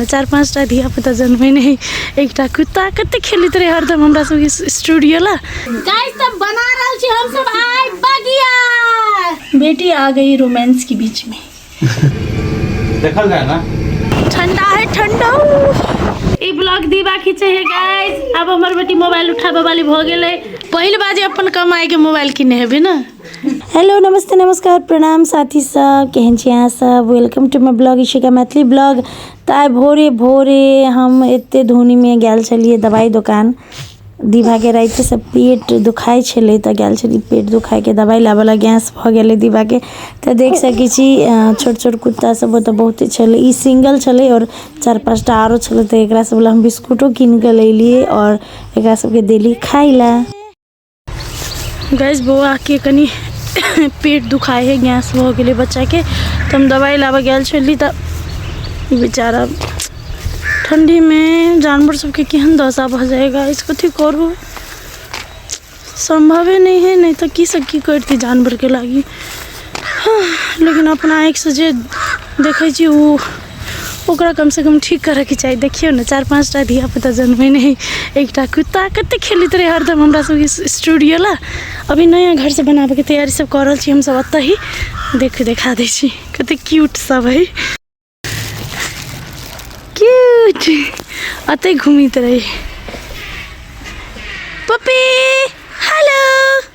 ने चारि पाँचटा धियापुता जनमै नहि एकटा कुत्ता कते खेलैत रहै हरदम हमरा सबके स्टूडियो ला गाइस सब बना रहल छी हम सब आइ बगिया बेटी आ गई रोमांस के बीच में देखल जाए ना ठंडा है ठंडा ई ब्लॉग दीवा खींचे है गाइस अब हमर बेटी मोबाइल उठाबे वाली भ गेलै पहिल बाजे अपन कमाई के मोबाइल किने हेबे ना हेलो नमस्ते नमस्कार प्रणाम साथी सब केहन छी अहाँ सब welcome to my blog Ishika Maithili blog तऽ आइ भोरे भोरे हम एते धुनीमे गेल छलियै दवाइ दोकान दिभाके रातिसँ पेट दुखाइ छलै तऽ गेल छलियै पेट दुखाइके दवाइ लाबऽला गैस भऽ गेलै दिभाके तऽ देख सकै छी अ, छोट छोट कुत्ता सब ओतऽ बहुते छलै ई सिंगल छलै आओर चारि पाँचटा आरो छलै तऽ एकरा सब लए हम बिस्कुटो कीन कऽ लैलियै आओर एकरा सबके देली खाइ लए गैस बौआ के कनी पेट दुखाए है गैस हो गए बच्चा के तो हम दवाई लाबे गए छली तो बेचारा ठंडी में जानवर सबके केहन दशा भऽ जाए गाइस कथी करू संभवे नहीं है नहीं तो की सब की करती जानवर के लागी हाँ, लेकिन अपना आँखिसँ जे देखै छी ओ ओकरा कमसँ कम ठीक करऽके चाही देखियौ ने चारि पाँच टा धियापुता जनमे नहि एकटा कुत्ता कतेक खेलैत रहै हरदम हमरा सबके स्टूडियो लए अभी नया घर सब बनाबैके तैयारी सब कऽ रहल छी हमसब ओतऽ ही देख देखा दै छी कतेक क्यूट सब है क्यूट अतै घूमैत रहै पपी हेलो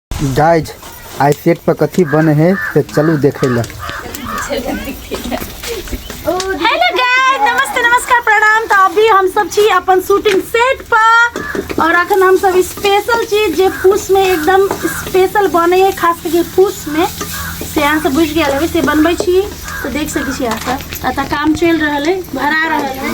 गाइज आइ सेट पर कथी बने है से चलू देखे ला हेलो गाइस नमस्ते नमस्कार प्रणाम तो अभी हम सब छी अपन शूटिंग सेट पर और अखन हम सब स्पेशल चीज जे फूस में एकदम स्पेशल बने है खास करके फूस में से अहाँ सब बुझ गया होबे से बनबै छी तो देख सकै छी अहाँ सब अतः काम चल रहल है भरा रहल है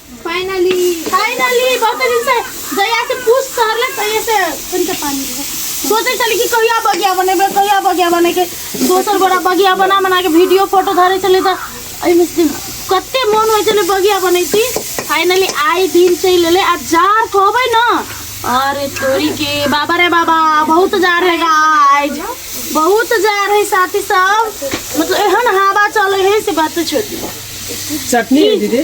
फाइनली फाइनली बहुत दिन से जहिया से पूछ सहरले तहिया से तनिका पानी है सोचे चली कि कहिया बगिया बनेबे कहिया बगिया बने के दोसर बड़ा बगिया बना बना के वीडियो फोटो धरे चले त एहिमे से कते मन होइ चले बगिया बनैती फाइनली आइ दिन चलि एलै आ जार कहबै न अरे तोरी के बाबा रे बाबा बहुत जार है गाइज बहुत जार है साथी सब मतलब एहन हवा चले है से बात छोड़ दियौ चटनी है दीदी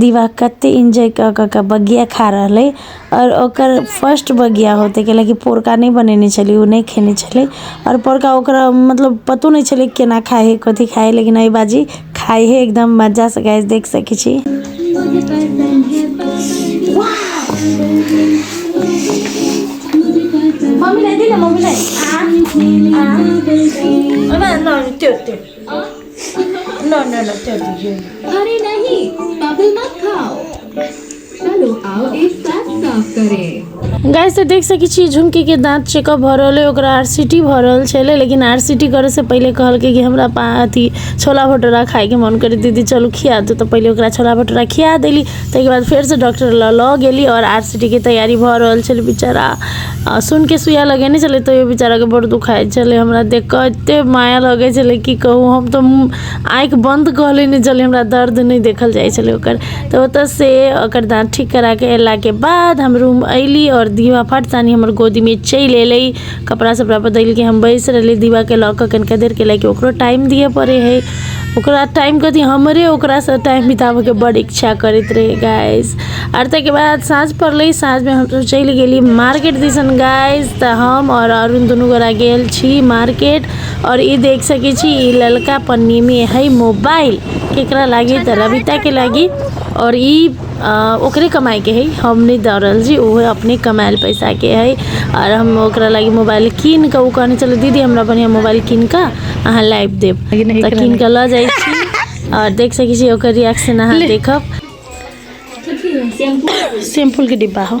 दिवा कते एन्जॉय कऽ कऽ कऽ बगिया खा रहल अइ आओर ओकर फर्स्ट बगिया होतै कैला की पोरका नहि बनेने छलियै ओ नहि खेने छलै आओर पोरका ओकरा मतलब पतो नहि छलै केना खाइ है कथी खाइ है लेकिन अइ बाजी खाइ है एकदम मजासँ गाइस देख सकै छी मम्मीलाई दिने मम्मीलाई आ आ ओइमा न त्यो त्यो नो नो नो चल दीजिए अरे नहीं बबल मत खाओ चलो आओ एक साथ साफ करें गाइस तऽ देख सकै छियै झुमकी के दांत चेकअप भऽ रहल है ओकरा आरसीटी भऽ रहल छलै लेकिन आरसीटी करे से पहिले कहलकै कि हमरा पा अथी छोला भटूरा खाय के मन करे दीदी चलू खिया दू तऽ पहिले ओकरा छोला भटूरा खिया देली ताहिके बाद फेरसँ डॉक्टर लऽ लऽ गेली आओर आर सी टी के तैयारी भऽ रहल छलै बेचारा आ सुनि कऽ सुइया लगेने छलै तैयो बेचाराके बड़ दुखाइत छलै हमरा देख कऽ एतेक माया लगैत छलै की कहू हम तऽ आँखि बन्द कऽ लेने छलियै हमरा दर्द नहि देखल जाइत छलै ओकर तऽ ओतयसँ ओकर दाँत ठीक करा कऽ अयलाके बाद हम रूम अयली आओर दीवाफट सानी हमर गोदीमे चलि अयलै कपड़ा सपड़ा बदलि के हम बैस रहली दीवा के लऽ कऽ कनिका देर के लाइक ओकरो टाइम दिअ पड़े है ओकरा टाइम कथी हमरे ओकरा से टाइम बिताबे के बड़ इच्छा करैत रहे गाइस आर ताहिके बाद साँझ पड़लै साँझ में हम सब चलि गेली मार्केट दिसन गाइस तऽ हम और अरुण दुनू गोरा गेल छी मार्केट और ई देख सकै छी ई ललका पन्नी में है मोबाइल केकरा लागी तऽ रविता के लागी और ई ओकरे कमाइके हइ हम नहि दऽ रहल छी ओहे अपने कमाएल पइसाके हइ आओर हम ओकरा लागी मोबाइल कीनिकऽ ओ कहने छलै दीदी हमरा बढ़िआँ मोबाइल कीनिकऽ अहाँ लाबि देब तऽ कीनिकऽ लऽ जाइ छी आओर देख सकै छी ओकर रिएक्शन अहाँ देखब शैम्पूके डिब्बा हौ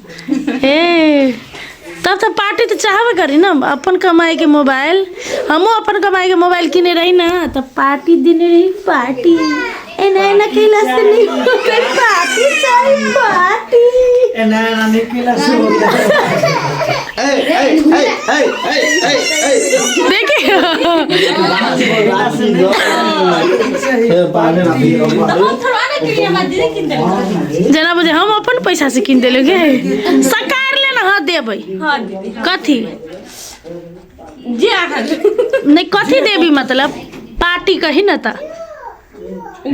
हे तब तऽ पार्टी तऽ चाहबे करी ने अपन कमाइके मोबाइल हमहूँ अपन कमाइके मोबाइल किने रही ने तऽ पार्टी देने रही पार्टी एना एना कैला से नहीं होता पार्टी चाहिए पार्टी एना एना नहीं कैला से होता देखिए पार्टी जेना बुझे हम अपन पैसा से किन देले गे सकार ले ना हां देबै हाँ दीदी कथी जे अहाँ नहीं कथी देबी मतलब पार्टी कही ना त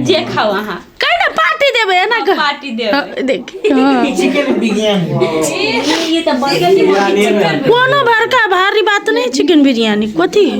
जे खाओ अहाँ कही ना पार्टी देबै एना कह पार्टी देब हाँ, देख हाँ। ये तो बर्गर के कोनो बड़का भारी बात नहीं चिकन बिरयानी कथी है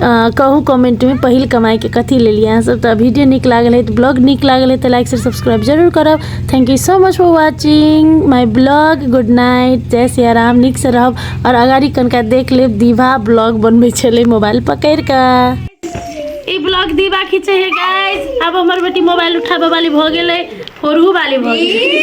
कहू कमेंटमे पहिल कमाइके कथी लेलिए अहाँसभ तऽ वीडियो नीक लागल है तऽ ब्लॉग नीक लागल है तऽ लाइक शेयर सब्सक्राइब जरूर करब thank you so much for watching my blog good night जय सिया राम नीकसँ रहब आओर अगाड़ी कनिका देख लेब दीवा ब्लॉग बनबै छलै मोबाइल पकड़ि कऽ ई ब्लॉग दीवा खींचे है गाइस अब हमर बेटी मोबाइल उठाबे वाली भ गेलै फोड़ू वाली भ गेलै